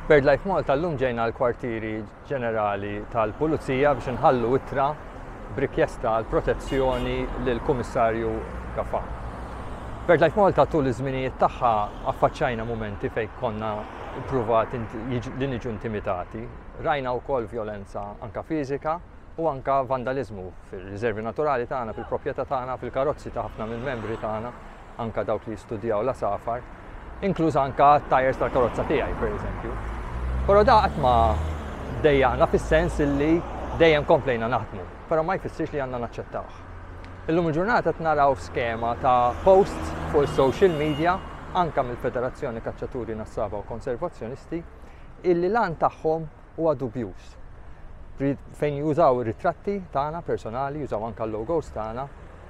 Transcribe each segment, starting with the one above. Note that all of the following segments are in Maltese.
BirdLife Malta llum ġejna l-Kwartieri Ġenerali tal-Pulizija biex inħallu ittra b'rikjesta għal protezzjoni lill-Kummissarju Gafà. BirdLife Malta tul iż-żminijiet tagħha affaċċajna mumenti fejn konna ppruvat li niġu intimitati. Rajna wkoll vjolenza anka fiżika u anka vandaliżmu fir-riżervi naturali tagħna, fil-proprjetà tagħna, fil-karozzi ta' ħafna mill-membri tagħna. anke dawk li jistudjaw l-għasafar, inkluż anke t-tajers tal-karozza tiegħi, pereżempju. Però da qatt ma dejjaqna fis-sens illi dejjem komplejna naħdmu, però ma jfissirx li għandna naċċettawh. Illum il-ġurnata qed naraw skema ta' posts fuq is-social media anke mill-Federazzjoni Kaċċaturi Nassaba u Konservazzjonisti illi lan tagħhom huwa dubjuż. Fejn jużaw ir-ritratti tagħna personali, jużaw anke l-logos tagħna,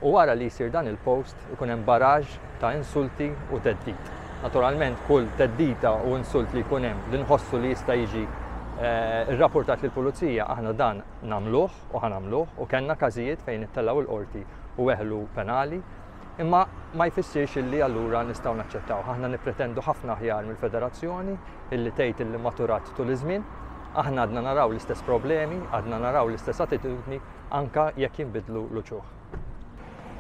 u wara li jsir dan il-post ikun hemm baraġ ta' insulti u teddid. Naturalment kull teddita u insult li jkun hemm li nħossu li jista' jiġi eh, rrapportat lill pulizija aħna dan nagħmluh u ħanamluh u kellna każijiet fejn ittellgħu l-qorti u weħlu penali Imma ma jfissirx illi allura nistgħu naċċettawh. Aħna nippretendu ħafna aħjar mill-Federazzjoni illi tgħid illi maturat tul iż-żmien. Aħna għadna naraw l-istess problemi, għadna naraw l-istess attitudni anke jekk jinbidlu l-uċuħ.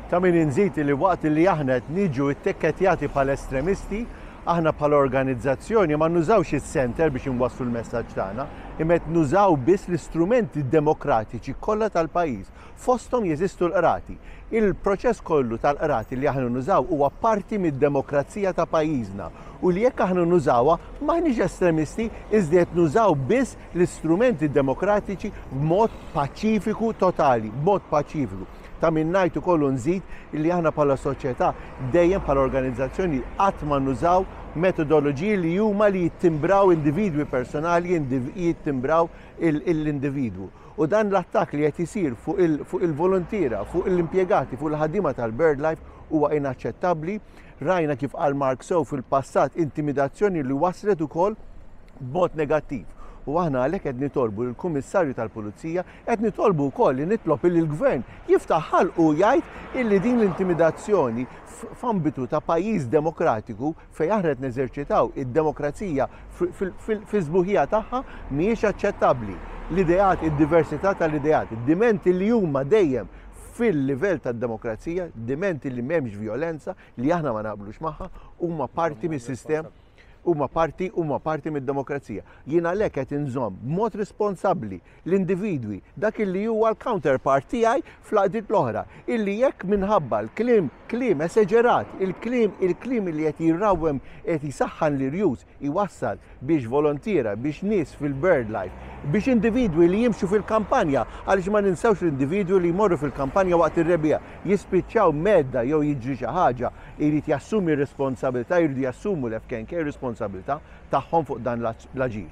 Ta' min inżid illi waqt illi aħna qed niġu ttikkettjati bħala estremisti, aħna bħala organizzazzjoni ma nużawx is-Centre biex inwasslu l-messaġġ tagħna, imma qed nużaw biss l-istrumenti demokratiċi kollha tal-pajjiż Fosthom jeżistu l-qrati. Il-proċess kollu tal-qrati li aħna nużaw huwa parti mid-demokrazija ta' pajjiżna u li jekk aħna nużawha m'aħniex estremisti iżda qed nużaw biss l-istrumenti demokratiċi b'mod paċifiku totali, b'mod paċifiku. Ta' min ngħid ukoll u nżid li aħna bħala soċjetà dejjem bħala organizzazzjoni qatt ma nużaw metodoloġiji li huma li jittimbraw individwi personali, jittimbraw l-individwu. U dan l-attakk li qed isir fuq il-voluntiera, fuq l-impjegati, fuq il-ħaddiema tal-BirdLife huwa inaċċettabbli. Rajna kif qal Mark sew fil-passat intimidazzjoni li waslet ukoll b'mod negattiv. U aħna għalhekk qed nitolbu lill kummissarju tal-Pulizija, qed nitolbu wkoll li nitlob li l-Gvern jiftaħ ħalqu jgħid illi din l-intimidazzjoni f'ambitu ta' pajjiż demokratiku Fejn aħna qed neżerċitaw id-demokrazija fis-sbuħija tagħha mhijiex aċċettabbli. L-ideat, id-diversità tal-ideat, id-dimenti li huma dejjem fil-livell tad-demokrazija, dimenti li m'hemmx vjolenza li aħna ma naqblux magħha, huma parti mis-sistema huma parti huma parti mid-demokrazija. Jien għalhekk qed inżomm b'mod responsabbli l-individwi, dak illi huwa l-counterpart tiegħi fl-għaqdiet l-oħra, illi jekk minħabba l-kliem, kliem eseġerat, il-kliem, il-kliem illi qed jirrawwem, qed jsaħħan l-irjus, iwassal biex volontiera, biex nies fil-birdlife, biex individwi li jimxu fil-kampanja, għaliex ma ninsewx l-individwi li jmorru fil-kampanja waqt ir-rebbiegħa, jispiċċaw mhedda jew jiġri xi ħaġa, irid jassumi r-responsabilità, jridu jassumu l-FKNK ir-responsabilità, tagħhom fuq dan l-aġir.